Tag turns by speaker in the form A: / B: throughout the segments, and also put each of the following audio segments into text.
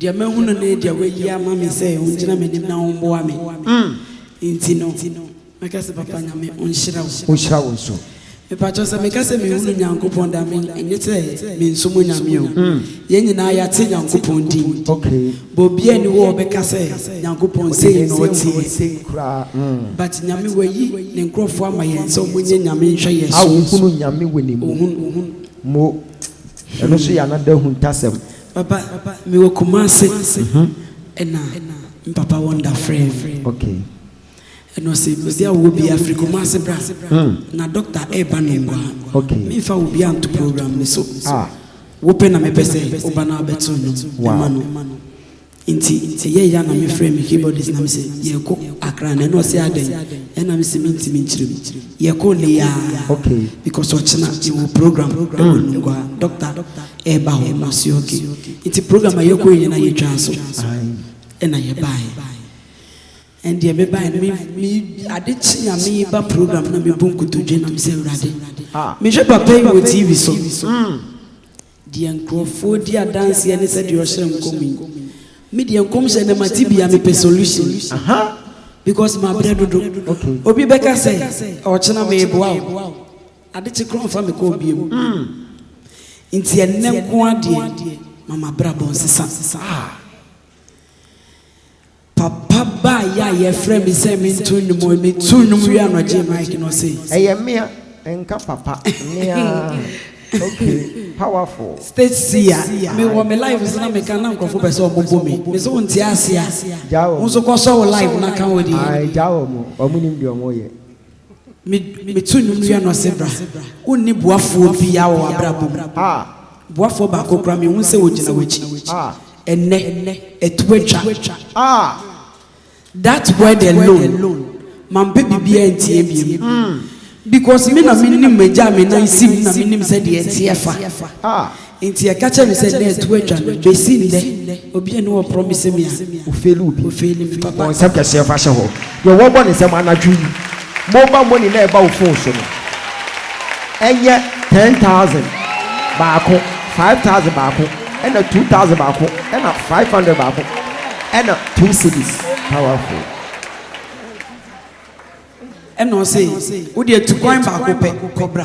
A: Deɛ mahunu ne deɛ wɔayi ama me sɛ ɔngyina m'anim na ɔmboa me nti no, mɛka sɛ Papa Nyame ɔnhyira wo. Ɔnhyira wo nso.
B: Mepatwɔ sɛ meka
A: sɛ mehunu Nyankopɔn da me ɛnyɛ sɛ mensom Nyame o. Yɛn nyinaa yɛate Nyankopɔn din. But obiara
B: nni hɔ a
A: ɔbɛka sɛ Nyankopɔn sei na ɔteɛ. But Nyame wayi ne nkorɔfoɔ ama yɛn sɛ ɔmonyɛ Nyame nhwɛ yɛn so. A ɔhunu Nyame wɔ ne
B: mu. Ɔhunu. Mo. Ɛno nso yɛ another ahuntasɛm. Papa,
A: me wɔ Kumasi, ɛna me papa wɔ Ndafrɛ. Okay.
B: Ɛna
A: ɔsi baabi a wɔ bi afiri Kumasi bra. Hmm. Na doctor ɛɛba no ngwa. Okay. Me nfa wɔ
B: bi anto
A: program ni so. Ah. Wopɛ na mepɛ sɛ woba na abɛto no. Wow. Ɛma no. Nti sɛ yɛyɛ a na me frɛ me keyboardist na me se yɛkɔ Accra na ɛna ɔse adɛn ɛna me se me ntimi nkyerɛ mu. Yɛkɔ nnɛ yi aa because
B: ɔkyena
A: me wɔ program ɛwɔ Nungua Doctor ɛɛba hɔ na ɔse ok nti program a yɛkɔ yɛ na yɛtwaa so ɛna yɛbaeɛ ɛndeɛ me baeɛ no me me ade kye a me ba program na me bɔ nkotodwe na me se Awurade me hwɛ papa yi wɔ TV so Deɛ nkurɔfoɔ di adanseɛ ne sɛdeɛ ɔhyɛ nkɔm yi, me deɛ nkɔmhyɛ no mate bi a mepɛ solution because mabrɛ dodo, obi bɛka sɛ ɔkyena meboa wo, adekye koraa ɔmfa me call bio, nti ɛnnɛ nko ara deɛ ma m'abrabɔ nsesa. Papa baeɛ a yɛfrɛɛ me sɛ mento nnwom hɔ yi, metoo nnwom wie a na ɔgyee mic no ɔsei. Ɛyɛ mea,
B: nka papa, mea, okay, powerful. Stecia,
A: me wɔ me live so na me ka na nkorɔfo pɛ sɛ ɔmo bɔ me, me se wonte aseɛ a, Gyaa wɔn. wo nso kɔ sɔ wo live na ka wo deɛ. Ae gyaa wɔn, wɔn
B: nim deɛ wɔn yɛ.
A: Me to nnwom wia no ɔse bra. Wonni boafoɔ biaa wɔ w'abrabɔ mu. Boafoɔ baako koraa menhu sɛ ɔgyina w'akyi. Ɛnnɛ atu atwa. That word alone mampɛ biribiaa ntie biom. Because me na menim m'agya a me nan si mu na menim sɛdeɛ ɛteɛ fa. Enti yɛka kyerɛ no sɛ nnɛ ɛto atwa no, besi nnɛ obi a ne wɔ promise me a ofeeli obi, ofeeli
B: me papa. Bɔ nsɛm
A: kɛseɛ fa hyɛ
B: hɔ. Deɛ wɔbɔ ne nsɛm anadwo yi mobile money na ɛba wo phone so no ɛnyɛ ten thousand baako, five thousand baako, ɛna two thousand baako, ɛna five hundred baako, ɛna two cedis. Powerful.
A: Ɛna ɔse wodeɛ tu kwan baako pɛ kɔ bra.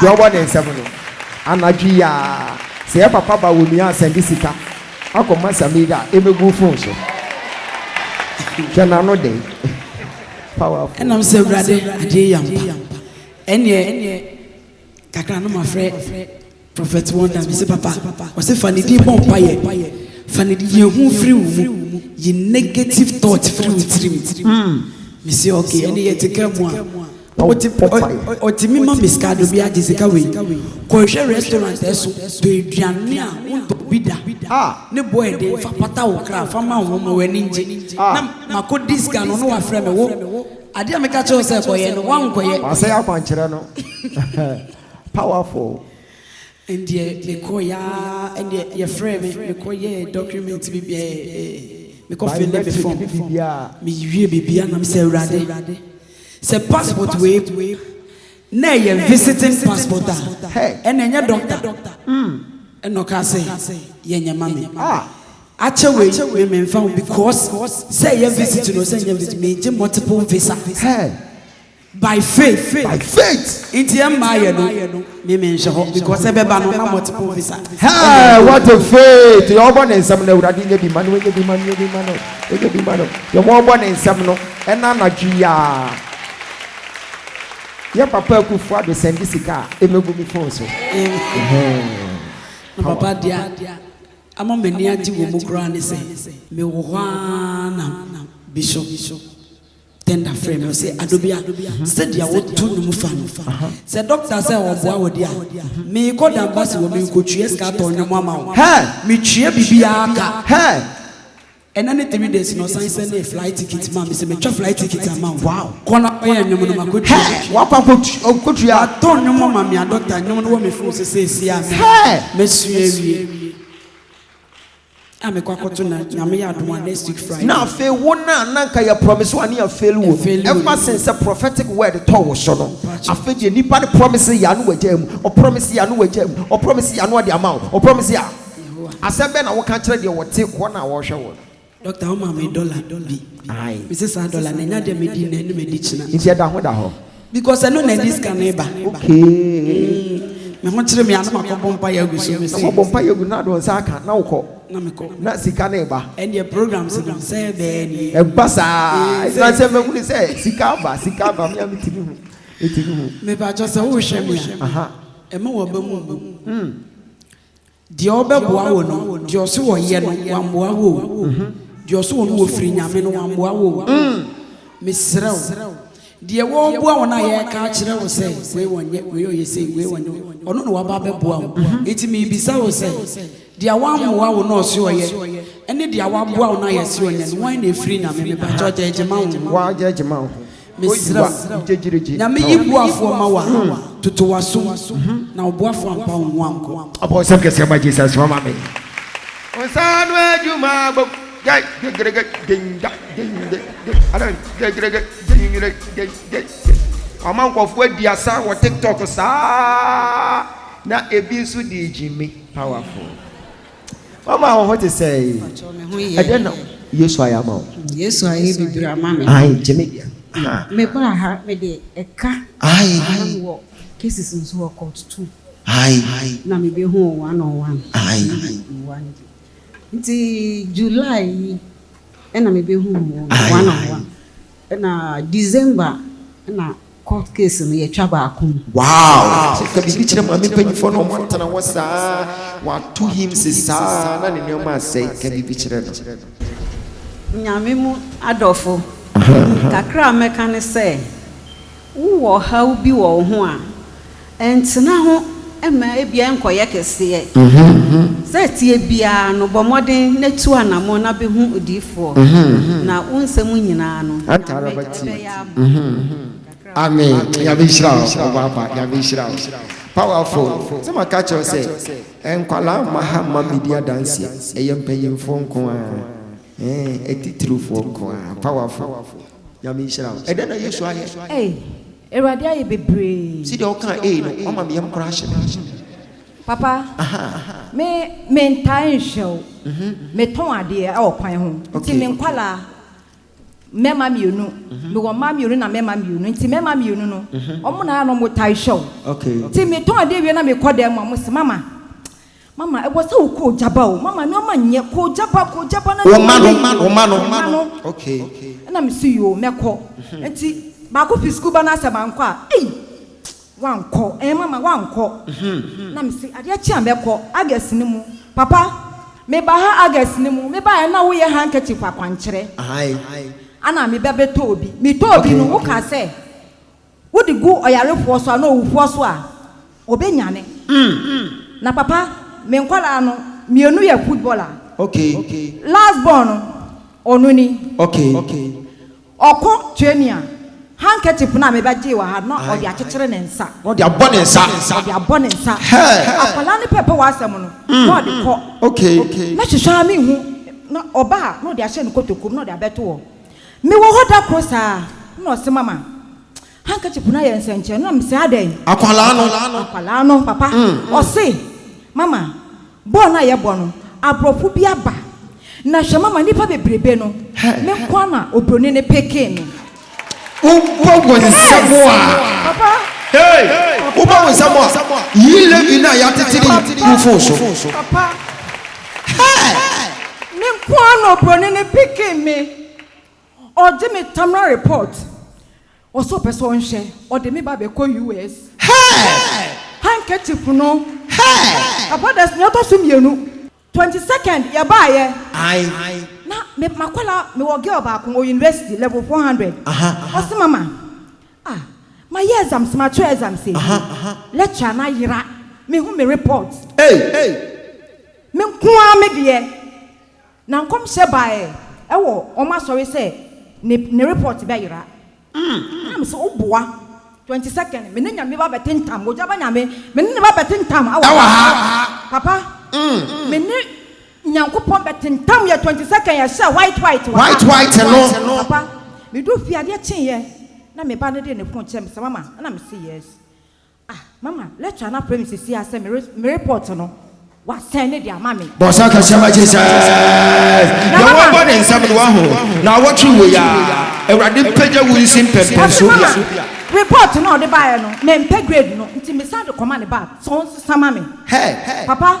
B: Deɛ ɔwɔ ne nsam no. Anadwo yi aa sɛ yɛ papa ba wɔ nua a sɛnde sika akɔ ma Samida a ɛmɛgu wo phone so hwɛ nano de powerful. Ɛnam sɛ Awurade
A: adeɛ yɛ ampa ɛneɛ kakra no mafrɛ Prophet Wonder mese papa ɔse fa ne din bɔ mpaeɛ fa ne din yɛ hu firi wo mu yi negative thought firi wo tirim mese ok ɛne yɛte car mu a Otimi ma me sika do bia gye sika wei kɔ hwɛ restaurant ɛso tɔ eduane a wo ntɔ bi da ne bo ɛden fa pata wo kra fa ma wɔn ma wɔn ani ngye na ma kɔ di sika no na wa frɛ me wo adeɛ a me ka kyerɛ wo sɛ kɔ yɛ no wa nkɔ yɛ. Wasɛe akwankyerɛ no
B: powerful. Ɛndeɛ
A: me kɔ yɛ aa ɛndeɛ yɛ frɛ me me kɔ yɛ document bi bia ɛɛ me kɔ fille me form me wie bibia na me sɛ awurade. Sɛ passport wei na ɛyɛ visiting passport a ɛna ɛnyɛ doctor ɛna ɔkaa sɛ yɛ nyɛ ma me akyɛ wei me me nfa ho because sɛ ɛyɛ visit no sɛ nyɛ visit me gye multiple visa by faith by faith nti ɛmma yɛ no Me me nhyɛ hɔ because ɛbɛba no na multiple visa. Hey, what a
B: faith! Yɛ ɔbɔ ne nsam no awurade nyɛ bi ma no, nyɛ bi ma no, nyɛ bi ma no, nyɛ bi ma no. Yɛ mo ɔbɔ ne nsam no ɛna anadwo yi a. Yɛ papa akufo ado sɛnde sika a ɛmɛgu me phone so. Na
A: papa deɛ ama m'ani agye wɔ mu koraa ne sɛ mewɔ hɔ ara na bishop. tender frɛ no sɛ adobia mhm. sɛdeɛ woto no mu fa no sɛ dɔkta sɛ ɔboa wɔ de a mhm. meekɔ dambase wɔ menkɔtwea sika atɔ nnwom ama wo metwea biribiaa ka ɛna ne three days na ɔsan sɛ ne flight ticket ma me sɛ metwa flight ticket ama wo kɔna ɔyɛ nnwom no makɔtwa wakɔ
B: akɔtua atɔ nnwom ama me
A: adɔkta nnwom no wɔ me fo sɛ sɛɛsi a mesua awie a mekɔ akɔto na nyame yɛ adom a next week Friday. Na afei wo no a na
B: nka yɛ promise wo a ne yɛ fail wo no ever since sɛ prophetic word tɔ wo so no afei deɛ nipa no promise yɛ ano wagyae mu ɔ promise yɛ ano wagyae mu ɔ promise yɛ ano ɔde ama wo ɔ promise yɛ Yehowa. Asɛm bɛn na woka kyerɛ deɛ ɔte hɔ no a ɔrehwɛ wo no? Doctor wo maa me
A: dollar bi. Aye. Me se saa dollar no ɛnyɛ adeɛ a mɛdi nnɛ ne mɛdi kyena. Nti ɛda ho da hɔ.
B: Because ɛno na ɛde
A: sika no reba. Okay.
B: Mm, me ho kyerɛ
A: me ano makɔbɔ mpa yɛ agu so me se. Makɔbɔ mpa yɛ agu na do nsa
B: aka na wokɔ. Na mekɔ. Na
A: sika no reba.
B: Ɛndeɛ programs no
A: sɛ bɛɛ ni. Ɛba saa.
B: Ɛna sɛ mɛhunu sɛ sika aba sika aba me a metumi hu. Metumi hu. Mepa kyɛ sɛ wohwɛ
A: me a. Aha. Ɛma
B: waba mu
A: mbu. Mm. Deɛ ɔbɛboa wo no, deɛ ɔse wɔyɛ no, wammoa wo o. Deɛ ɔse wɔn wɔfiri Nyame no, wammoa wo o. Mesrɛ wo, deɛ wɔreboa wo no a yɛreka akyerɛ wo sɛ wei wɔnyɛ, wei ɔyɛ sei, wei wɔnyɛ, ɔno na waba abɛboa wo. Enti merebisa wo sɛ, deɛ wammoa wo na ɔse ɔyɛ, ɛne deɛ waboa wo na yɛse ɔnyɛ no, wan na ɛfiri Nyame? Mepa kyɛw gyɛɛgye ma wo ho. Woagyɛɛgye ma wo ho. Mesrɛ wo, Nyame yi boafoɔ ma wo a, toto w'asom, na wo boafoɔ ampa wo ho ankɔ. Ɔbɔ nsɛm kɛseɛ ma
B: Jesus mama me. Wo nsa ano adwuma bom gya gyegyerege gyengya gyengye gye adan gyegyerege gyengye gyegye gye. Wama nkurɔfoɔ adi asa wɔ TikTok saa na ebi nso de regye me powerful. Mama wo ho te sɛɛ. Mpakyɛw me ho yɛ. Ɛdɛn na Yesu ayɛ ama wo? Yesu ayɛ bebree
C: ama me. Ayi gye me
B: deɛ. Me ba
C: ha me de ɛka. Ayi. Na me wɔ
B: cases
C: nso wɔ court two. Ayi. Na
B: me bɛ hu wɔ
C: one on one.
B: Ayi. Nti
C: July yi ɛna me bɛ hu wɔ one on one. Ɛna December ɛna Court case no yɛtwa baako mu. Wow so ka
B: biribi kyerɛ maame mpanyinfoɔ na ɔmo atena hɔ saa wato him se saa na ne nneɛma asɛe ka biribi kyerɛ no.
C: Nyame mu adɔfo kakra a mɛka ne sɛ wowɔ ɔhaw bi wɔ wo ho a Ntena ho mma ebi nkɔyɛ kɛseɛ. Sɛ ɛteɛ biara no, bɔ mmɔden na tu anammɔn na bɛhu odiyifoɔ, na wo nsɛm nyinaa no, Nyame bɛyɛ ama
B: wo. Amen Nyame nhyira wo ɔbaapa Nyame nhyira wo powerful sɛ maka kyerɛ wo sɛ nkwadaa mma ha mma medi adanseɛ ɛyɛ mpanyinfoɔ nko ara ɛɛn atitirifoɔ nko ara powerful Nyame nhyira wo ɛdɛn na Yesu ayɛ. Awurade ayɛ
D: bebree. Sɛdeɛ wokaa ei no
B: wama me yam koraa hyɛ me hmm. Papa,
D: me me ntaa nhwɛ wo. Mhm. Me tɔn adeɛ ɛwɔ kwan ho. Nti okay, me nkwalaa okay. Mɛma mmienu. Mhm. Mewɔ mmaa mmienu na mɛma mmienu. Nti mɛma mmienu no. Mhm. Ɔmo na ayɛ na ɔmo taa hwɛ wo. Okay. Nti me tɔn
B: adeɛ wie
D: na me kɔ dan mu a, ɔmo se mama, Mama, ɛwɔ sɛ wo koo gya ba o, mama nnoɔma nyɛ, koo gya ba, koo gya ba na nnoɔma nyɛ yie, wo ma
B: no, ɛna me se yoo,
D: mɛkɔ, nti baako fi sukuu ba na asɛ mankɔ a, ei, woankɔ ɛɛ mama, woankɔ, na me se adeɛ kye a mɛkɔ, August no mu, papa, me ba ha August no mu, me baeɛ na wo yɛ handkerchief akwankyerɛ, ɛna me ba bɛtɔɔ bi, me tɔɔ bi no, wo kaa sɛ Wode gu ɔyarefoɔ so anaa owufoɔ so a, ɔbɛnyane. Na papa, me nkwadaa no mmienu yɛ footballer.
B: Last born no,
D: ɔno ni.
B: Ɔkɔ
D: training a, handkerchief no a mebɛgyee wɔ ha no, na ɔde akyekyere ne nsa. Ɔde abɔ ne nsa.
B: Ɔde abɔ ne nsa. Akwadaa
D: no pɛɛpɛ w'asɛm no, na ɔde kɔ. Mɛhwehwɛ
B: ara menhu,
D: na ɔba a, na ɔde ahyɛ ne kotokuo mu, na ɔde abɛto hɔ. Mewɔ hɔ da koro saa na ɔse mama handkerchief no ayɛ nsɛnkyerɛnne na mese adɛn? Akwadaa no. Akwadaa no papa ɔse mama bɔɔl no a yɛbɔ no aborɔfo bi aba na hwɛ mama nnipa bebrebe no me nko ara na obroni no pekee me. Wobɔ
B: wo nsam a. Papa.
D: Hey!
B: Wobɔ wo nsam a, yi Levi no a yɛatete no yi gu wo phone so. Papa.
D: Hey! Me nko ara na obroni no picking me. Ɔgye me terminal report. Ɔse ɔpɛ sɛ ɔnhwɛ. Ɔde me ba bɛkɔ US.
B: Hey! Handkerchief
D: no. Hey!
B: Abɔdas nea ɔtɔ so
D: mmienu. Twenty second yɛbaeɛ. Aye.
B: Na me,
D: m'akwadaa, mewɔ girl baako, ɔwɔ university, level four hundred. Aha, aha. Ɔse mama, Ah ma yɛ exams ma twerɛ exams ewie lecture no ayera me hu me report ei
B: me
D: nko ara me deɛ na nkɔmhyɛ baɛ ɛwɔ wɔn asɔre sɛ ne ne report bɛ yera na me se wo boa twenty second me ne nyame ba bɛ te ntam mogya ba nyame me ne ne ba bɛ te ntam ɛwɔ ha papa me ne Nyankopɔn bɛ tentam yɛ twenty second yɛ hyɛ white white wɔ ha. White white no. Papa me du fie adeɛ kye yɛ na me ba no de ne phone kyɛ me sɛ mama ɛna me se yes ah mama lecturer no afrɛ me sesiaa sɛ me me report no wa send ne de ama me. Bɔsa kɛseɛ ma Jesus.
B: Na mama. Yɛ wɔbɔ ne nsam no wahu na awɔtwe wɔ ya awurade mpagya wo nsi mpɛmpɛn so bia. Ɔse mama report no
D: a ɔde baɛ no me mpɛ grade no nti me san de kɔma ne back sɛ ɔnsesa ma me. Hey. Papa.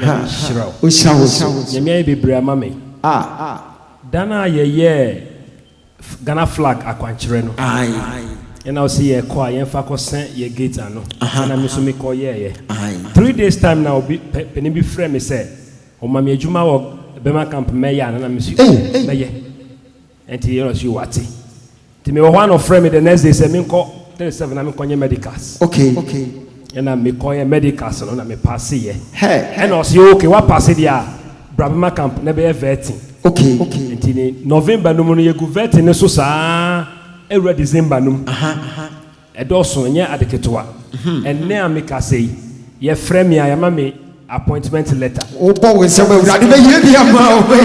E: Nyame nhyira wo. Ohyira wo so.
B: Nyame ayɛ bebree ama
E: me. Ah. Da no a yɛyɛɛ Ghana flag akwankyerɛ no. Aye.
B: Ɛna ɔse
E: yɛkɔ a yɛmfa kɔ sɛ yɛ gate ano. Aha. Ɛna me nso me kɔ yɛɛyɛ. Aye. Three days time na obi pɛ panin bi frɛ me sɛ ɔma me adwuma wɔ Burma camp mɛyɛ a na na me nso Ei. mɛyɛ. Ɛnti yɛrɛ so yi wate. Nti mewɔ hɔ a na ɔfrɛ me the next day sɛ menkɔ three seven na menkɔ nyɛ medicals. Okay.
B: Ɛna
E: mekɔ yɛ medicals no na me passe yɛ. Hɛɛ. Ɛna ɔse
B: okay wa
E: passe deɛ a bra bɛma camp na bɛyɛ vetting. Okay. Nti
B: ne
E: November no mu no yɛgu vetting no so saa ɛwura December no mu. Aha. Ɛdɔɔso, ɛnyɛ ade ketewa. Ɛnnɛ a meka sɛ yi, wɔafrɛ me a, wɔama me appointment letter. Wobɔ wo nsam a,
B: Awurade bɛyɛ bi ama wo.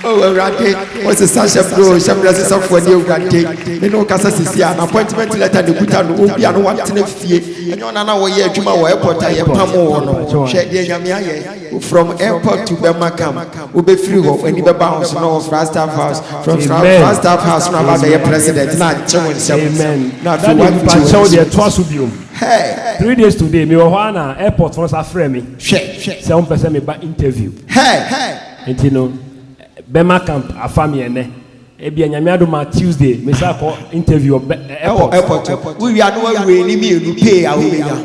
B: Oh, Awurade, wosesa hyɛbrɛ o, hyɛbrɛ sesafoɔ ne Awurade. Me ne wo kasa sisi a, na appointment letter na ɛkuta no. Obi a na watena fie, ɛnyɛ ɔno a na wɔyɛ adwuma wɔ airport a yɛpamoo wo no. Hwɛ deɛ Nyame ayɛ. From airport to bɛma kam wobɛfiri hɔ wani bɛba ho so na wɔ Flagstaff house from Flagstaff house na aba bɛyɛ president na agye wo nsɛm amen na
E: afei wani gye
B: wani so deɛ
E: toa so biom hey three days
B: today me wɔ
E: hɔ a na airport no sa frɛ me hwɛ sɛ wɔn pɛ sɛ
B: me ba
E: interview hey
B: nti no
E: bɛma camp afa me ɛnɛ. Ebia Nyame adom a Tuesday me san kɔ interview wɔ bɛ ɛ ɛwɔ airport hɔ.
B: airport wo wie a na wa weigh ne mmienu pay a wo bɛnya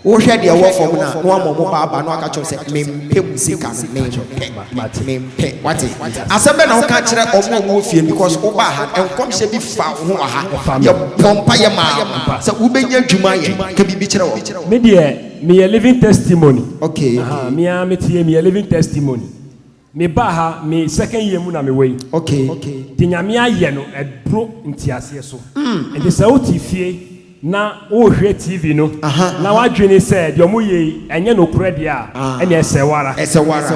B: wo hwɛ deɛ ɛwɔ fam no a na wa ma ɔmo ba aba na waka kyerɛ wɔn sɛ me mpɛ mo sika no me mpɛ Mate. me mpɛ wate asɛm bɛn na wo ka kyerɛ ɔmo a ɔmo wɔ fie no because wo baa ha no nkɔmhyɛ bi fa wo ho wɔ ha Ɛfa me. yɛ bɔ mpaeɛ maa wo Ampa. sɛ wo bɛnya adwuma ayɛ ka biribi kyerɛ wɔn. Me deɛ me
E: yɛ living testimony Okay. Ahaa me
B: ara me te yɛ
E: me yɛ living testimony. Me baa ha me second year mu na me wɔ yi. Okay. Deɛ
B: Nyame ayɛ
E: no ɛbro nteaseɛ so. Nti sɛ wote fie na wohwɛ TV no na w'adwene sɛ deɛ ɔmo yɛ yi ɛnyɛ nokorɛ deɛ a, ɛnneɛ ɛsɛ wo ara. Ɛsɛ wo ara.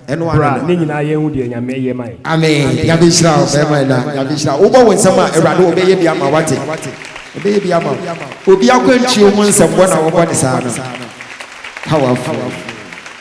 E: Ɛnti
B: bra ne nyinaa
E: yɛn hu deɛ Nyame ayɛ ma yɛn. Amen. Nyame nhyira
B: wo bɛɛma ɛna. Nyame nhyira wo. Wobɔ wo nsam a, Awurade ɔbɛyɛ bi ama wo wate. Ɔbɛyɛ bi ama wo. Obi akwantuo ho nsɛmbɔ na wɔbɔ no saa no. Powerful.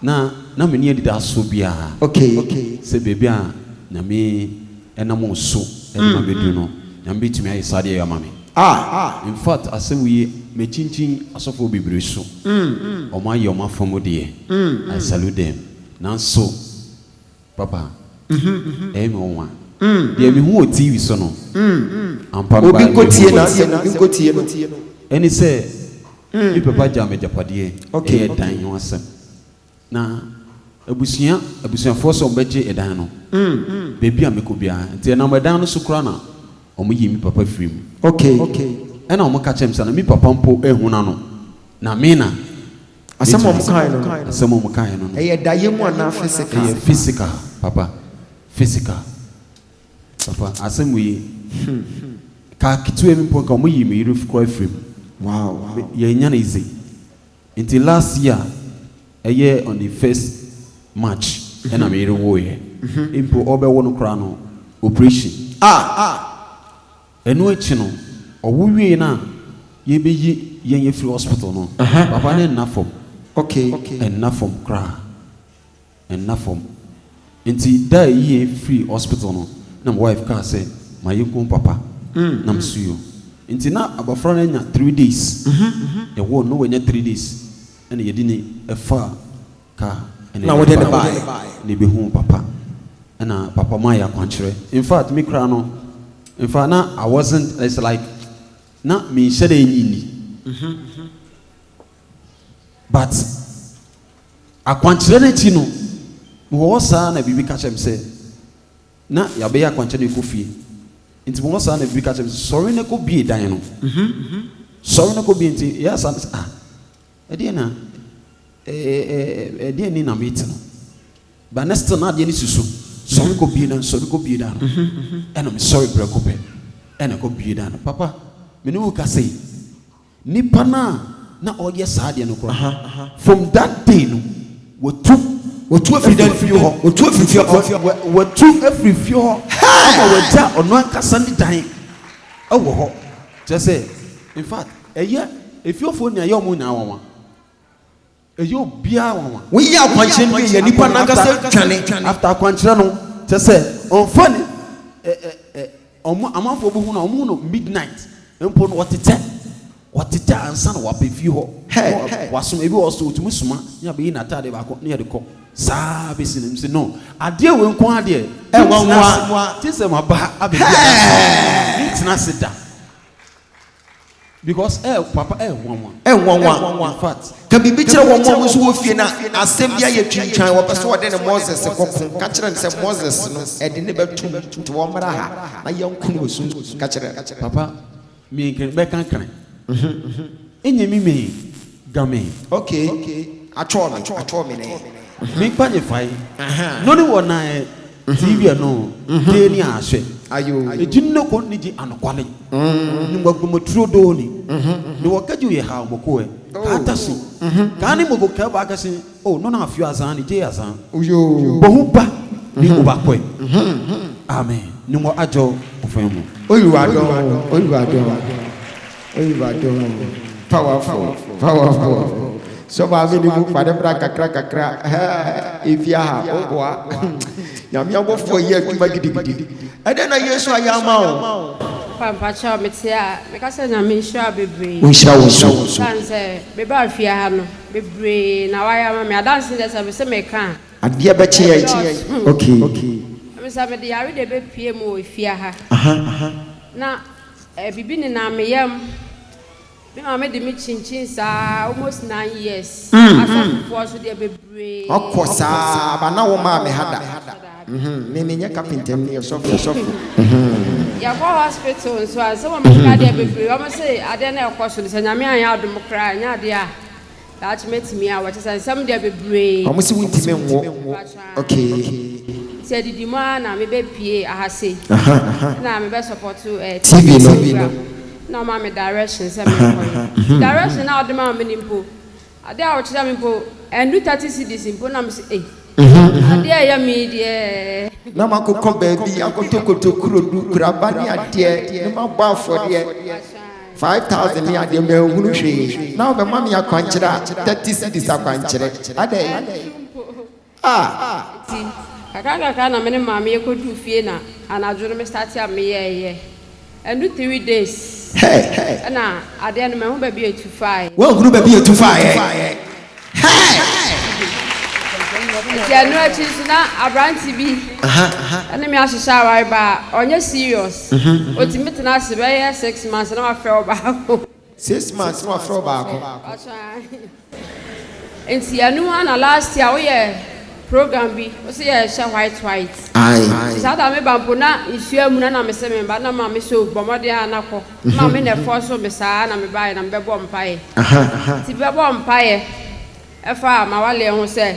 F: Na na menni anidasoɔ biara sɛ
B: baabi a
F: Nyame nam wo so de ma bɛduru no, Nyame bɛtumi ayɛ saa adeɛ yi ama me. In fact, asɛm wei makyinkyin asɔfoɔ bebree so, wɔayɛ wɔn afa mu deɛ, I salute them, nanso, Papa, ɛyɛ me nwonwa. Deɛ mehu wɔ TV so no, ampa no baa
B: me fie. Ɛne sɛ,
F: me papa gyaa me agyapadeɛ, ɛyɛ dan ho
B: asɛm.
F: Na abusua, abusuafoɔ sɛ wɔbɛgye dan no, baabi a mɛkɔ biara, nti ɛnam dan no so koraa na wɔyii me papa firii mu. Ɛna wɔka kyerɛɛ me sɛ, na me papa mpo anhunu ano, na me na.
B: Asɛm a wɔkae no no. Asɛm a wɔkae no no.
F: Ɛyɛ daeɛ mu anaa
B: physical? Ɛyɛ physical,
F: papa. Physical. Papa, asɛm wei, kaa ketewa bi mpo, nka wɔyii me yere koraa firii mu. Wow.
B: Yɛannya no easy.
F: Nti last year, ɛyɛ on the first March, ɛna me yere woeɛ. Mpo ɔrebɛwo no koraa no, operation. Ah! Ɛno akyi no ɔwo wiei no a yɛbɛyi yɛn afiri hospital no papa no nna fam ok ɛnna fam koraa ɛnna fam nti da a ɛyi yɛn firii hospital no na me wife kaa sɛ mayɛ home papa na me so yio nti na abɔfra no anya three days yɛwoo no na wanya three days ɛna yɛde ni ɛfaa ka ɛna wode no
B: baeɛ na ɛbɛhuu papa
F: ɛna papa maa yɛ akwankyerɛ infact me koraa no infact na I wasn't it's like na menhyɛ da ɛnyi nni but akwankyerɛ no akyi no mewɔ hɔ saa na biribi ka kyerɛ me sɛ na yɛabɛyɛ akwankyerɛ no ɛkɔ fie nti mewɔ hɔ saa na biribi ka kyerɛ me sɛ sɔre no kɔ bie dan no sɔre no kɔ bie nti yɛ asa ah Ɛdeɛn na ɛdeɛn ni na mete no but na still na adeɛ no susu sɔre kɔ bie dan sɔre kɔ bie dan no ɛna mesɔre prɛko pɛ ɛna ɛkɔ bie dan no papa me ne wo ka sei nipa no a na ɔyɛ saa adeɛ no koraa from that day no wɔtu wɔtu afiri dan fie hɔ wɔtu afiri fie hɔ wɔtu afiri fie hɔ ama wɔagya ɔno ankasa ne dan ɛwɔ hɔ kyerɛ sɛ in fact Ɛyɛ efiofo nea ɛyɛ wɔn nyinaa nwanwa. Ɛyɛ obiara nwanwa. Woyɛ akwankyerɛ no wie
B: yɛ nipa nankasa dwane. After akwankyerɛ no
F: kyerɛ sɛ ɔnfa ni ɛ ɛ ɛ ɔmo amanfoɔ bi hu no a ɔmo hu no midnight mpo no ɔtetɛ ɔtetɛ ansa na waba efie hɔ na wasom ebi wɔ hɔ so otumi soma ne abɛyi n'ataadeɛ baako ne yɛde kɔ saa besi no msi no adeɛ wei nko adeɛ ɛnwanwa gye sɛ ma ba abɛbi adansi ne ntena ase da. Because ɛyɛ papa ɛyɛ nwanwa. Ɛnwanwa infact ka biribi kyerɛ wɔn a wɔn
B: nso wɔ fie na asɛm bi ayɛ twintwan wɔpɛ sɛ wɔde ne Moses kɔko ka kyerɛ no sɛ Moses no ɛde ne bɛto mu nti wɔmmra ha na yɛnko no wɔ sunsum ka kyerɛ no. Papa me
F: nkran bɛka kran ɛnyɛ me me ga me. Ok atwɔɔ me
B: atwɔɔ me nɛɛ. Me nkpa nyefae
F: no ne wɔ na ɛ. Dze wiɛ no, dee ne aahwɛ egye no no
B: kɔn ne gye
F: anokwale no mu agbɔmɔ turo doo ni ne wɔ kɛgye oyɛ haa ɔmɔ kowɛ kaa tase kaa ne mɔvo kɛɛ bɔ akɛse o nɔn aafio azaa ne gyee azaa bɔ ho
B: ba
F: ne oba kɔɛ amen ne mɔ adjɔ ofɛn mɔ. Oluwa dɔn o,
B: Oluwa dɔn o. Ewurade ho. Powerful, powerful. Sɔ maa me ne mu fa ne bra kakra kakra. Efi aha, o boa. Nyame abɔfoɔ yɛ adwuma gidigidi. Ɛdɛn na Yesu ayɛ ama wo? Papa mpakyɛw me
G: te a me ka sɛ Nyame nhyira wo bebree. Ɔnhyira wo nso. Ɛsiane
B: sɛ me baa
G: fie ha no bebree na wayɛ ama me adanse deɛ sɛ me se me ka a. Adeɛ bɛkye yɛn.
B: Ɛdɔɔso. Okay. Me sɛ
G: me de yare deɛ bɛ pue mu wɔ efie ha. Aha. Na. Biribi nenam me yam. Me maame de me kyinkyin saa almost nine years. Asɔfofoɔ nso deɛ bebree. Ɔkɔ saa
B: but na wɔmaa me ha da. Me menyɛ kapinta ni ɔsɔfo.
G: Yɛkɔ hospital nso a sɛ wɔn meka deɛ bebree wɔn se adeɛ na ɛkɔ so no sɛ Nyame anyɛ adom koraa a ɛnyɛ adeɛ a. Daakye mɛtumi awo, kyerɛ sɛ nsɛm deɛ bebree. Wɔn se wontumi nwo,
B: okay. Nti adidi
G: mu ara na mebɛpue aha sei, na mebɛsɔpɔto eh, TV no,
B: na wɔma me
G: direction sɛ menkɔyɛ, direction no a wɔde ma me no mpo, adeɛ a wɔkyerɛ me mpo, ɛndu thirty cedis mpo, na mese ei. Adeɛ a ɛyɛ me deɛ. Na makokɔ
B: baabi akɔtɔkɔtɔ kurodu, kuraba ne adeɛ na mabɔ afɔdeɛ five thousand ne adeɛ manhunu hwee na wobɛma me akwankyerɛ a thirty cedis akwankyerɛ adɛn ah.
G: Nti kakra kakra na me ne maame yɛkɔduu fie na anadwo no me starte a meyɛɛyɛ Ɛndu three days ɛna adeɛ no mahu baabi a etu faeɛ. Wanhunu baabi a etu
B: faeɛ.
G: Nti ɛno akyi nso na aberante bi ɛne me ahyehyɛ aware baa ɔnyɛ serious. Otumi tena ase bɛyɛ six months na wafrɛ ɔbaako. Six months
B: na wafrɛ wo baako. Ɔso aa nti
G: ɛno a na last year woyɛ program bi wose yɛ hyɛ white white nti saa da
B: me ba mpo na
G: nsuo amuna na mese me ba na maame so bɔ mmɔden a na kɔ maame na ɛfɔ so me saa na me baeɛ na me bɛbɔ mpaeɛ nti bɛbɔ mpaeɛ Ɛfa Mawale ho sɛ,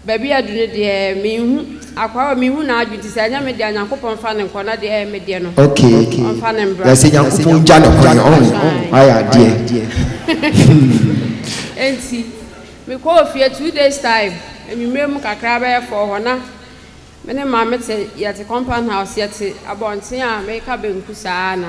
G: Baabi a aduru no deɛ menhu, akwaa wei menhu n'adwene nti sɛ ɛnyɛ me dea Nyankopɔn mfa no nkɔ na deɛ ɛyɛ me deɛ no ok ɔmfa no
B: mbra. Yɛse
G: Nyankopɔn ngya no
B: kwan ɔho wayɛ adeɛ hmm.
G: Enti me kɔɔ fie two days time anwummerɛ mu kakra bɛyɛ four hɔ na me ne maame te yɛte compound house yɛte abɔnten a meka bɛnku saa na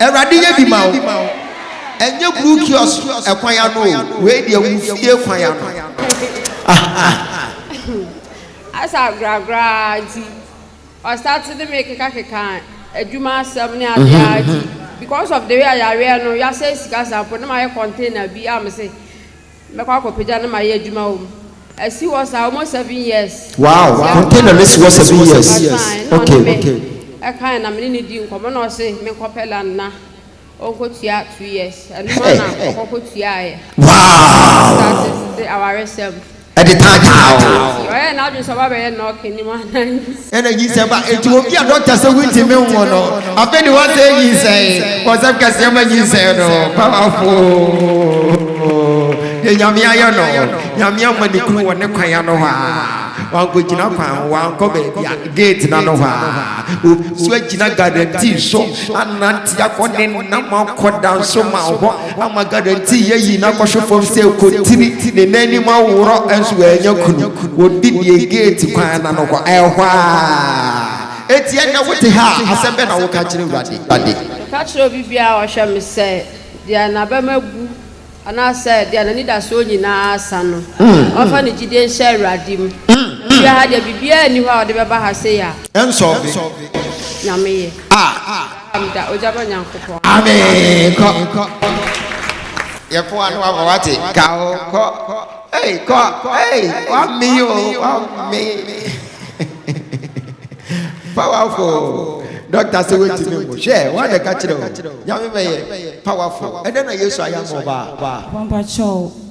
B: Awurade yɛ bi ma wo. Ɛnyɛ blue kiosk ɛkwan ano o, wei deɛ wo fie kwan ano.
G: Asa gragra'a nti ɔ start ne me keka keka adwuma asɛm ne adeɛ a nti because of the way a yareɛ no yasɛe sika sa mpo na mayɛ container bi a mese Mɛkɔ akɔpagya no mayɛ adwuma wɔ mu. Asi hɔ saa almost seven years. Wow, container
B: no si hɔ seven years. Okay. Ɛna ɔne me ɛkan na me
G: ne no di nkɔmɔ na ɔse me nkɔpɛ land na ɔnkɔ tua two years. Ɛno mu na ɔkɔ kɔ tuaeɛ. Wow. Started awaresɛm. Ɛde taa taa
B: o. Ɔyɛɛ n'adwene sɛ ɔba
G: bɛyɛ nɔɔke ni mu anaa. Ɛna nyinsɛn ba.
B: Enti obi a dɔkta sɛ wontumi nwo no, afei de wɔsɛ nyinsɛn. Wɔsɛm kɛseɛ ma nyinsɛn no. Powerful. Deɛ Nyame ayɛ no, Nyame ama ne kunu wɔ ne kwan ano hɔ a, wankɔgyina kwan ho, wankɔ baabi a gate no ano hɔ a, obi nso agyina guarantee so anante akɔ ne nam akɔ danso ma hɔ. Wamma guarantee yɛayi no akɔhwe fam sɛ kontiri, ne nan anim aworɔ nso wannya kunu. Wɔdi deɛ gate kwan no ano hɔ, ɛhɔ ara. Enti ɛnnɛ wote ha a, asɛm bɛn na woka kyerɛ Awurade? Meka kyerɛ obi
G: biara a ɔhwɛ me sɛ, deɛ n'abam abu anaasɛ deɛ n'anidasoɔ nyinaa asa no, ɔmfa ne gyidie nhyɛ Awurade mu. Na me wura ha deɛ, biribiara nni hɔ a ɔde bɛba ha sei a. Ɛnsɔɔve.
B: Nyame
G: yɛ. Ah! Amda ogya ba Nyankopɔn.
B: Amen kɔ yɛ po ano aba wate ka o kɔ ei kɔ ei wame o wame powerful dɔkta sɛ wontumi mu hwɛ woadɛ ka kyerɛ o nyame bɛyɛ powerful ɛdɛ na yesu ayɛ ama ɔbaa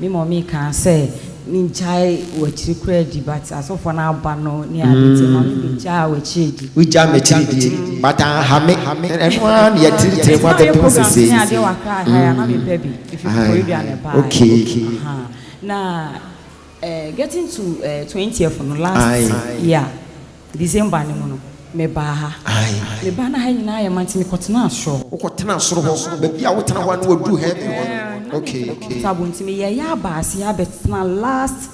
H: Me mummy kaa sɛ me ngyae wakyiri koraa di but asɔfoɔ no aba no ne ade nti ma me bɛ gyaa wakyiri di. Wo gyaa makyiri die
B: but anha me ɛno ara na yɛtiritirɛ mu abɛdom sesei nti. Ɛsɛ ayɛ programs ne adeɛ wɔ Accra ha yi
H: a na me pɛ bi ɛfiri Koforidua na ɛbaeɛ aha
B: na
H: getting to twentieth no last year. December no mu no, mebaa ha. Mebaa na ha nyinaa ayɛ ma nti mekɔtenaa soro hɔ. Wokɔtenaa soro hɔ?
B: Baabi a wotena hɔ a na waduru heaven hɔ no? Ok, ok. Nti meyɛɛ
H: yɛ aba aseɛ abɛtena last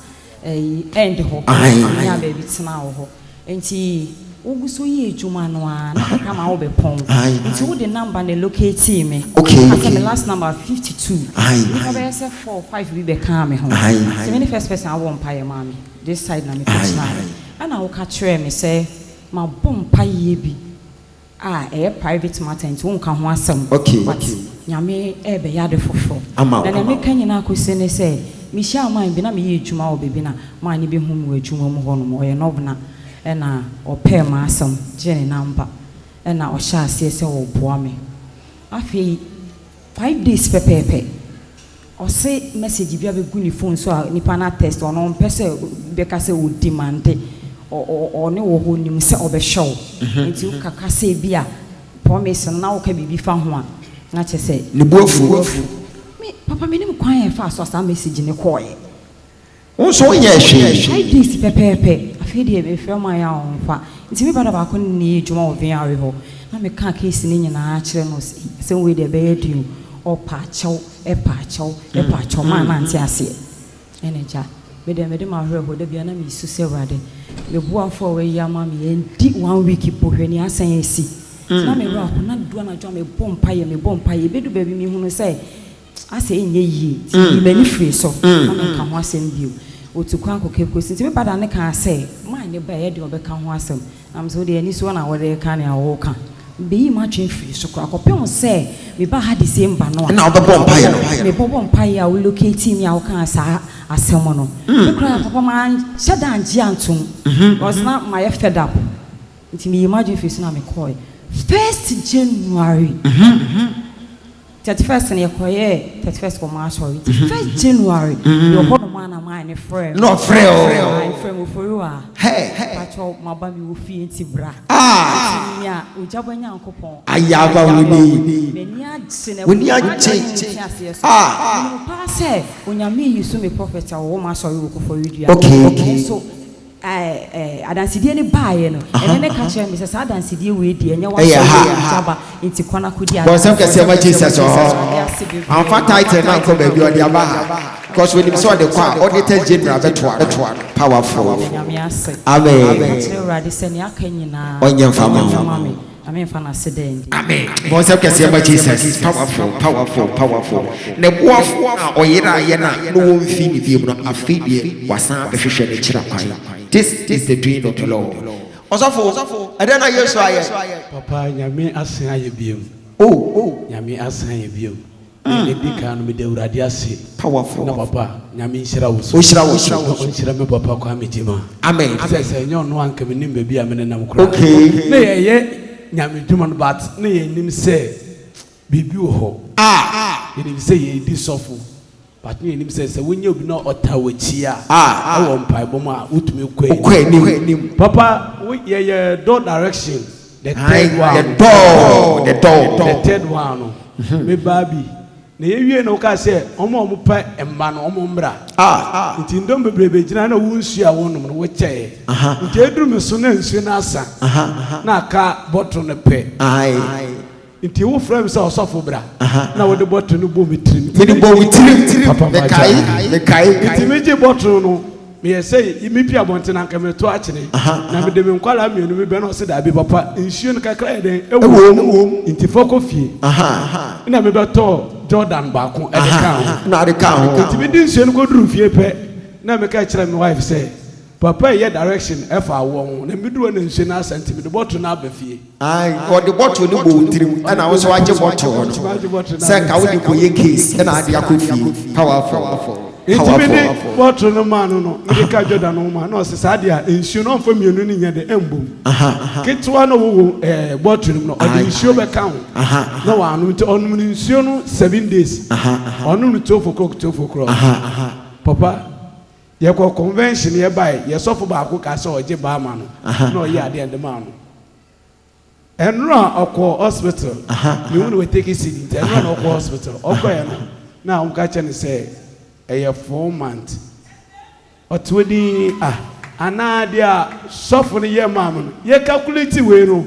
H: ɛyi end hɔ. Menyaa baabi tenaa wɔ hɔ. Nti wogu so yɛ adwuma no ara na kakra ma wobɛpɔn. Nti wode number na elocatee me. Wokaa sɛ me last number yɛ fifty two. Nnipa bɛyɛ sɛ four, five bi bɛkaa me ho sɛ mene first person a wobɔɔ mpaeɛ maa me. This side na mekɔtenaeɛ. Ɛna woka kyerɛɛ me sɛ mabɔ mpaeɛ bi a ɛyɛ private matter nti wonka ho asɛm but Nyame ɛɛbɛyɛ ade foforɔ. Na deɛ meka nyinaa kɔsi ne sɛ mehyia man bi na meyɛ adwuma wɔ baabi na man no bɛhu me wɔ adwuma mu hɔ nom, ɔyɛ Nɔbena, ɛna ɔpɛɛ m'asɛm gyee ne number ɛna ɔhyɛɛ aseɛ sɛ ɔreboa me. Afei. Five days pɛpɛɛpɛ ɔse message bi abegu ne phone so a nipa no a text ɔno ɔmpɛ sɛ bɛka sɛ o demande ɔne wo hɔ nim sɛ ɔbɛhwɛ wo nti wo kaka sɛ bi a promise no na wo ka biribi fa ho a na kyɛ sɛ ne bo afu
B: me
H: papa menim kwan a ɛfaa so a saa message no kɔɔɛ. Wo nso
B: wonyɛɛ hwee. I did pɛpɛɛpɛ.
H: Afei deɛ mefrɛ wɔn a yɛ a wɔmfa. Nti me brada baako ne no yɛ adwuma wɔ Vignale hɔ. Na mekaa case no nyinaa kyerɛ no. Ɔse ei, asɛm wei deɛ ɛbɛyɛ den o. Ɔɔ paakyɛw, paakyɛw, paakyɛw. Maa nante aseɛ. Ɛna agya, me deɛ mede m'awerɛhoɔ, da biara na mesu sɛ Awurade, me boafoɔ a woayi ama me yi, ɛndi one week mpo, hwɛ nea asan asi. Nti na me werɛ aho. Na ɛdu anadwo a, mebɔ mpaeɛ, mebɔ mpaeɛ. Ɛbɛdu baabi mehunu sɛ. Asɛ ɛnyɛ yie, nti meyii m'ani firii so, na menka ho asɛm bio. Ɔtu kwan kɔka kuro so, nti me ba Dane kaa sɛ, Mae ne ba yi, ɛdeɛn ɔbɛka ho asɛm? Na me sɛ, Wodeɛ anisoɔ na woreka nea woreka. Mebɛyii m'adwene firii so koraa, kɔpem sɛ mebaa ha December no a, na wobɛbɔ mpaeɛ no.
B: Mebɔbɔ mpaeɛ a wo
H: locatii me a wokaa saa asɛm no, me koraa papa manhyɛ da angye antom, cause na mayɛ fed up, nti meyii m'adwene firii so na mekɔɔɛ. First January, Thirty first no yɛ kɔ yɛɛ thirty first wɔ mo asɔre nti first January yɛ wɔ hɔ nom a na maa ne frɛ me. Na ɔfrɛ o. Aa
B: efrɛ me ofori
H: aa. Hey. Pakyɛw
B: ma ba me
H: wɔ fie nti bra. Aa. Nti mia ogyabɔ Nyankopɔn. Ayaawa wo ni. M'ani agye
B: na ɛwɔ
H: mu agye ne nti
B: aseɛ so. Aa.
H: Menim paa sɛ Onyame reyi so me prophet a ɔwɔ mo asɔre wɔ Koforidua. Okay. Nanso. Adansedie no baeɛ no, ɛnɛ no ka kyerɛɛ me sɛ, saa adansedie wei deɛ, ɛnyɛ w'asɔre wei na ɛti aba, enti kɔ na kɔdi adanseɛ. Bɔnsɛm kɛseɛ ma Jesus
B: wɔ hɔ. Amfa title no ankɔ baabi, ɔde aba ha because onim sɛ ɔde kɔ a, Auditor General bɛtoa no. Powerful. Amen.
H: Ɔnyɛ mfa mma wo.
B: Nyame nfa no ase
H: dɛ ndi. Amen bɔ nsɛm
B: kɛseɛ ma Jesus powerful powerful powerful ne boafo a ɔyeraa yɛn a na ɔwɔ mfii ne biom no afei deɛ wasan abɛhwehwɛ ne kyira kwan this is the doing of the Lord ɔsɔfo ɛdɛn na Yesu ayɛ. Papa nyame
I: asen ayɛ biom oh. Nyame
B: asen ayɛ
I: biom Nea edi kan no, meda Awurade ase. Powerful. Na papa,
B: Nyame
I: nhyira wo so. Ɔnhyira wo so. Na ɔnhyira
B: me papa Kwame
I: Gyimah. Amen. Sɛ sɛ
B: ɛnyɛ ɔno a anka
I: mennim baabi a menenam koraa. Okay. Na yɛyɛ Nyame adwuma no but na yɛnnim sɛ biribi wɔ hɔ. Ah. Yɛnim sɛ yɛredi sɔfo but na yɛnnim sɛ sɛ wonyɛ obi na ɔtaa w'akyi a, Ah. ɛwɔ mpaebɔ mu a wotumi kɔ anim. Wokɔ anim. Papa, wo yɛyɛ door direction. The third one. The door. The door. The third one no. Mm-hmm. Me baa bi. Na yɛ wie no ɔka sɛ wɔn a wɔn pɛ mma no wɔn mmra. Ah, ah. Nti ndɔm bebree bɛ gyina na wɔn nsuo a wɔn nom no wɔkyɛɛ. Aha. Nti eduru me so na nsuo no asa. Aha. Na aka bɔtɔ no pɛ. Ayi. Nti wo frɛ me sɛ ɔsɔfo bra na wode bɔtoro no bɔ me tirim. Mede bɔ wo tirim,
B: mekae, mekae. Nti me gye
I: bɔtoro no, me yɛ sɛ me pie abɔnten anka me to akyene, na me de me nkwadaa mmienu me bɛ no ɔse daabi papa nsuo no kakra yɛ dɛn ɛwɔ mu, nti fa kɔ fie, ɛna me bɛ tɔɔ Jordan baako ɛde kaa ho, nti me
B: de nsuo no kɔ
I: duru fie pɛ na me ka kyerɛ me wife sɛ. Papa yi yɛ direction ɛfa awoɔ ho na meduru hɔ na nsuo no asa nti mede bottle no aba fie. Ae wɔde bottle
B: no bɔ wo tirim ɛna wo nso wagye bottle no sɛ nka wode kɔyɛ case ɛna ade akɔ fie powerful. Nti mede
I: bottle no maa no no mede ka Jordan ho ma no na ɔse saa deɛ a nsuo no ɔmfa mmienu no nyɛ dɛ ɛmbɔ mu ketewa na ɔwɔ wom ɛɛ bottle no mu no ɔde nsuo bɛka ho na wanom nti ɔnom no nsuo no seven days ɔnom no twelve o'clock twelve o'clock papa Yɛkɔ convention yɛbae yɛ sɔfo baako kaa sɛ ɔgye baa ma no na ɔyɛ adeɛ de maa no ɛnora ɔkɔ hospital mehu no wɔ take seed nti ɛnora na ɔkɔ hospital ɔkɔɛ no na wɔn ka kyɛ no sɛ ɛyɛ four month ɔte hɔ din ah. Anaa deɛ sɔfo no yɛ maa me no yɛ calculate wei no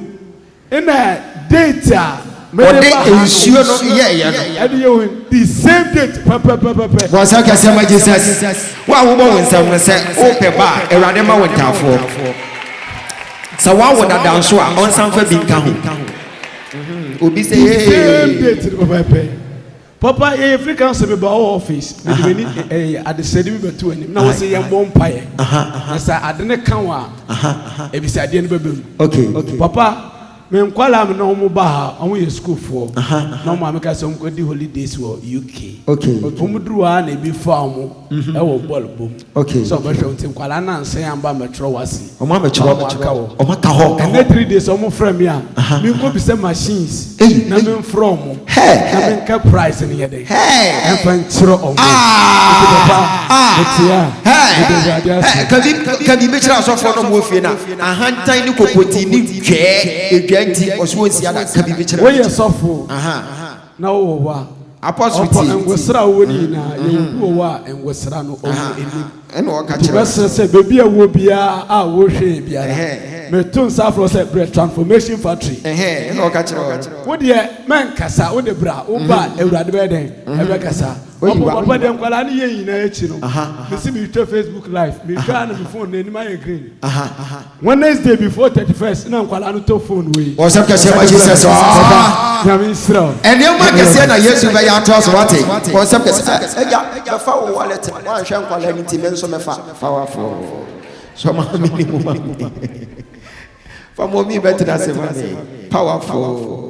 I: Nna date a mede wɔde ba
B: ha no. nsuo no yɛeɛ no. Ɛde yɛ ohen. The same
I: date pɛpɛpɛpɛpɛ. Bɔ nsɛm kɛseɛ ma
B: Jesus. Wo a wobɔ wo nsɛm no, sɛ wopɛ ba a, Awurade mma wo ntaafoɔ. Sɛ woawo dada nso a, ɔnsan fa bi nka ho. Obi sɛ The same ee. date no
I: pɛpɛpɛ. Papa yɛ yɛ free council mi ba ɔwɔ office mi de mi ni ɛyɛ adesɛde bi bɛ to anim na wɔsi yɛn bɔ mpa yɛ na sɛ ade ne ka wa ebisa adeɛ no bɛ bɛ mu okay papa mi nkwalaa mi na wɔn ba ha wɔn yɛ sukuu foɔ na wɔn maame ka sɛ wɔn kɔ di holidays wɔ UK okay wɔn duru
B: ha na
I: ebi fa wɔn ɛwɔ bɔl bom. Ok. Sɛ ɔbɛ hwɛ wo nti
B: nkwadaa
I: no ansɛn amba ammɛtwerɛ wo ase. Ɔmo ammɛtwerɛ ɔmo aka
B: hɔ. Ɔmo aka hɔ. Ɛnɛ three days ɔmo frɛ
I: me a me nkɔ bisa machines na me nfrɛ ɔmo na me nka price no yɛ dɛn ɛnfa nkyerɛ ɔmo nti papa me te a me da
B: awurade ase. Kabi kabi me kyerɛ asɔfoɔ no ɔmo wɔ fie no a ahantan ne kokotii ne dwɛɛ edwa nti ɔse ɔnsi ada kabi me kyerɛ. Woyɛ sɔfoo.
I: Na ɔwɔ hɔ a, ɔkɔ
B: Ngwesra a ɔwɔ no
I: nyinaa, yɛwɔ obi wɔ hɔ a Ngwesra no ɔwɔ anim. Nti
B: mɛsrɛ sɛ baabi a ɛwɔ
I: biara a wohwɛ yɛn biara, meto nsa afrɛ wo sɛ brɛ Transformation Factory. Wo
B: deɛ
I: mɛnkasa,
B: wo
I: de bra, wo ba a Awurade bɛyɛ dɛn?
B: Ɛbɛkasa.
I: Ɔpɔ papa deɛ nkwadaa no yɛ nyinaa akyi no, mese meretwa Facebook live, mehwɛ a na me phone no anim ayɛ green. Wednesday before thirty first na nkwadaa no tɔ phone wei. Ɔsɛm kɛseɛ ma Jesus
B: ɔɔ. Nyame
I: nhyira wo. Nneɛma kɛseɛ na
B: Yesu bɛyɛ atoa so wate. Ɔsɛm kɛseɛ ɛgya bɛfa wo wallet wanhwɛ nkwadaa no ti me nso mɛfa. Powerful. Sɔ ma me ne mu ma me. Fa mɔmi bɛtena ase ma me. Powerful.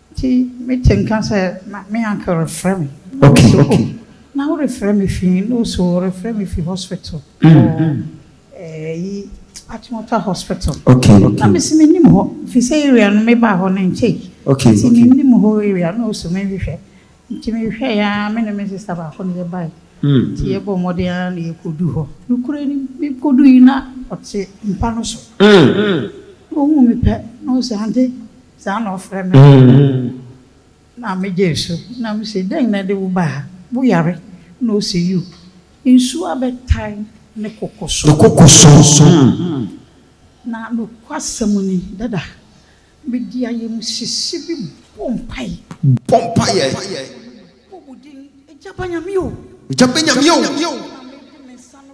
J: Nti me te nka sɛ na me uncle refrɛ me. Okay, Ɔse okay. oh
B: na wo refrɛ
J: me fi he? No ɔse oh ɔrefrɛ me fi hospital wɔ ɛyi Achimota hospital. Okay, okay. Na mese
B: mennim hɔ
J: firi sɛ area no mebaa hɔ no nkyɛe. Okay, Nti okay. mennim
B: hɔ
J: area no ɔse menhwehwɛ. Nti mehwɛeɛ aa me ne me sister baako na yɛbae. Nti yɛbɔɔ mmɔden ara na yɛkɔduu hɔ. Nokorɛ nim mekɔduui na ɔte mpa no so. Na ɔhuu me pɛ na ɔse Aunty Saa na ɔfrɛ me no na megyee so na mise, Dɛn na ɛde wo baa ha? Woyare? Na ose, Yiw, nsu abɛtae me koko so. Me koko so. Na nokwasɛm ni, dada mede ayamhyehye bi bɔ mpae. Bɔ mpae. Mebɔ wo din, Agya, ba Nyame o. Agya, ba Nyame o. Na mede me nsa no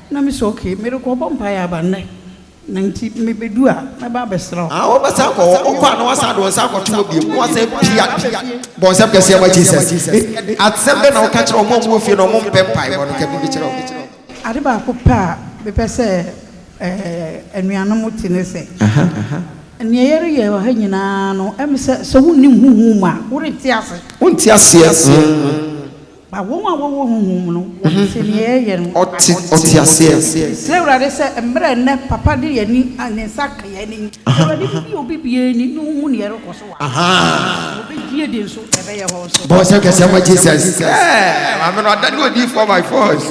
J: Na me sɛ okay merekɔ bɔ mpaeɛ aba nnɛ na nti me bɛdu a mɛba abɛsra wo. Aah wobɛsan akɔ hɔ?
B: Wokɔ a na woasan de wo nsa akɔto hɔ biom na woasan pia bɔ nsɛm kɛseɛ ma Jesus. Asɛm bɛn na woka kyerɛ wɔn a wɔwɔ fie na wɔmpɛ mpaebɔ no? Ka biribi kyerɛ wɔn. Ade baako
J: pɛ a mepɛ sɛ anuanom te ne sɛ, nea yɛreyɛ wɔ ha nyinaa no, ɛm sɛ sɛ wonnim honhom mu a, worente ase. Wonte aseɛ. Ma wɔn a wɔwɔ honhom mu no wɔ nsɛnniiɛ yɛ no. Ɔte ɔteaseɛ.
B: Srɛ Awurade sɛ
J: mmerɛ nnɛ papa de yɛn ani, ne nsa ka yɛn ani. Awurade bɛbue obi biara ani na ɔhu deɛ ɛrekɔ so wɔ ha. Na ɔbɛdi adi nso na ɛbɛyɛ hɔ nso. Bɔ nsɛm kɛseɛ ma Jesus.
B: Ɛɛ maame no ada ne odiyifoɔ by force.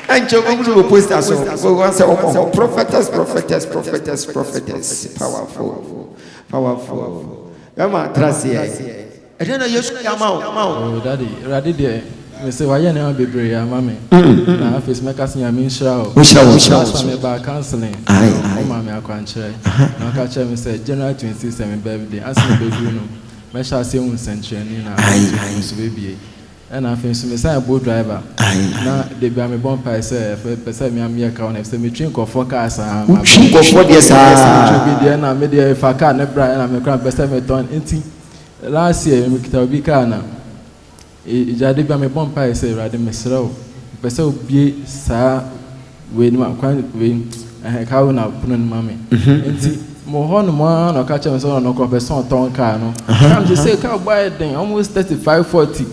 B: Ɛnkyɛ wobɛhu no wɔ poster so. Wobɛhu asɛ wɔbɔ hɔ prophetess prophetess prophetess prophetess powerful powerful. Bɛma atra aseɛ. Ɛdeɛn na Yesu ayɛ ama wo? Oh daddy, Awurade
K: deɛ mese wayɛ nneɛma bebree ama me na afei nso mɛka sɛ Nyame nhyira wo. Ɔnhyira wo, ɔnhyira wo. Last time mebaa counseling Aye, no aye. womaa me akwankyerɛ Aha, na aha. woka kyerɛɛ me sɛ January 26 yɛ me birthday ansa na ɛbɛduru no mɛhyɛ aseɛ ahu nsɛnkyerɛnne na Aye, asotwe aye. nso bɛbue. Ɛna afei nso mesan yɛ boat driver Aye, na aye. da biara mebɔ mpaeɛ sɛ ɛfɛ pɛ sɛ me ara meyɛ car owner ɛfisɛ metwi nkurɔfoɔ car saa Wotwi mabrɛ. nkurɔfoɔ deɛ Yes
B: metwi obi saa. deɛ na medeɛ
K: mefa car no bra ɛna me koraa mepɛ sɛ metɔn nti Last year mekita obi kaa na gya de bia me bɔ mpae sɛ awurade mesrɛ wo mepɛ sɛ obie saa wei no ma kwan wei ɛhɛ kaa wei na pono no ma me nti mo hɔ no mo ara na ɔka kyerɛ me sɛ ɔno nokora pɛ sɛ ɔtɔn kaa no na me sɛ kaa bɔ ayɛ den almost thirty five forty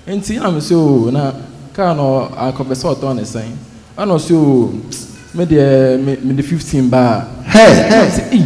K: nti na me sɛ oo na kaa no akɔpɛ sɛ ɔtɔn ne sɛn ɛna ɔsɛ oo me deɛ me de fifteen baa hɛ hɛ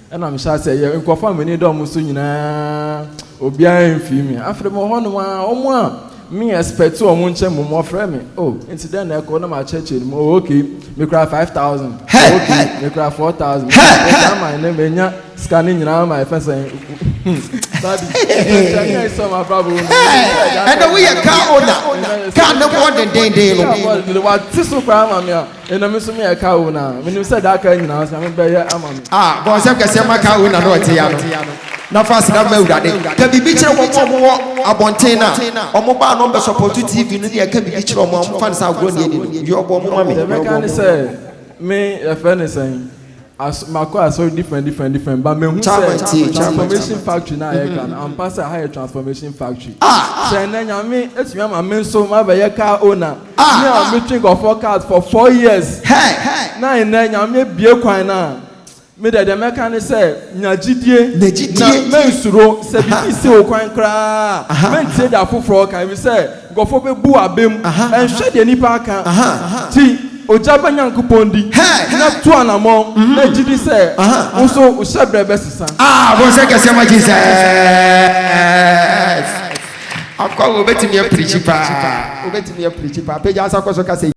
K: Ɛna mehyɛ aseɛ yɛ nkurɔfoɔ a m'ani dɔ wɔn so nyinaa, obiara amfiri me. Afei mewɔ hɔnom ara, wɔn a me expect wɔn nkyɛn mmom, wɔfrɛ me. Oh, nti dɛn na ɛrekɔ? Na makyerɛkyerɛ no mu. Oh, okay, mekura five thousand. Oh, okay, mekura four thousand. Mekura ama ɛnɛ manya sika no nyinaa ama ɛfɛ sɛn. Daddy, ɛnkyɛ nyɛ sɛ wɔn abrabɔ mu. Ɛnna
B: woyɛ car owner, car ne bɔɔ dendenden no. Wate so koraa ma
K: me a. Ena me nso me yɛ car owner a, menim sɛ daa car nyinaa sɛ me bɛyɛ ama me. Ah, bɔ nsɛm kɛseɛ
B: ma car owner no a ɔte ya no, na fa aseda ma Awurade. Ka biribi kyerɛ wɔn a wɔwɔ abɔnten no a wɔn baa na wɔn bɛ sɔpɔto TV no ne yɛn, ka biribi kyerɛ wɔn a wɔmfa no sɛ agorɔ na yɛdi no.
K: Deɛ
B: ɔbɔ
K: mo ma
B: me. Deɛ
K: mɛka
B: ne sɛ, Me,
K: yɛfrɛ
B: no
K: sɛn?
B: As
K: makɔ asɔre different different different but mehu sɛ Chama ntie, chama, transformation chama. factory na yɛka no ampa sɛ ha yɛ transformation factory. Ah! Sɛ ɛnɛ Nyame atumi ama me nso mabɛyɛ car owner, Ah! me a metwe nkurɔfoɔ cars for four years Hey! na ɛnɛ Nyame abue kwan no a, me deɛ deɛ mɛka ne sɛ nya gyidie Nya gyidie. na mansuro sɛ biribi si wo kwan koraa a, Aha, aha. mɛntie deɛ afoforɔ reka ɛfiri sɛ Nkurɔfoɔ bɛbu abam nhwɛ deɛ nnipa aka nti, ogya bɛ Nyankopɔn di na tu anammɔn na gye di sɛ wo nso wo hyɛberɛ bɛsesa. Ah, bonsɛ kɛseɛ ma
B: Jesus! Of course, obetumi apirikyi paa, obetumi apirikyi paa. Pagya nsa kɔ so ka sɛ.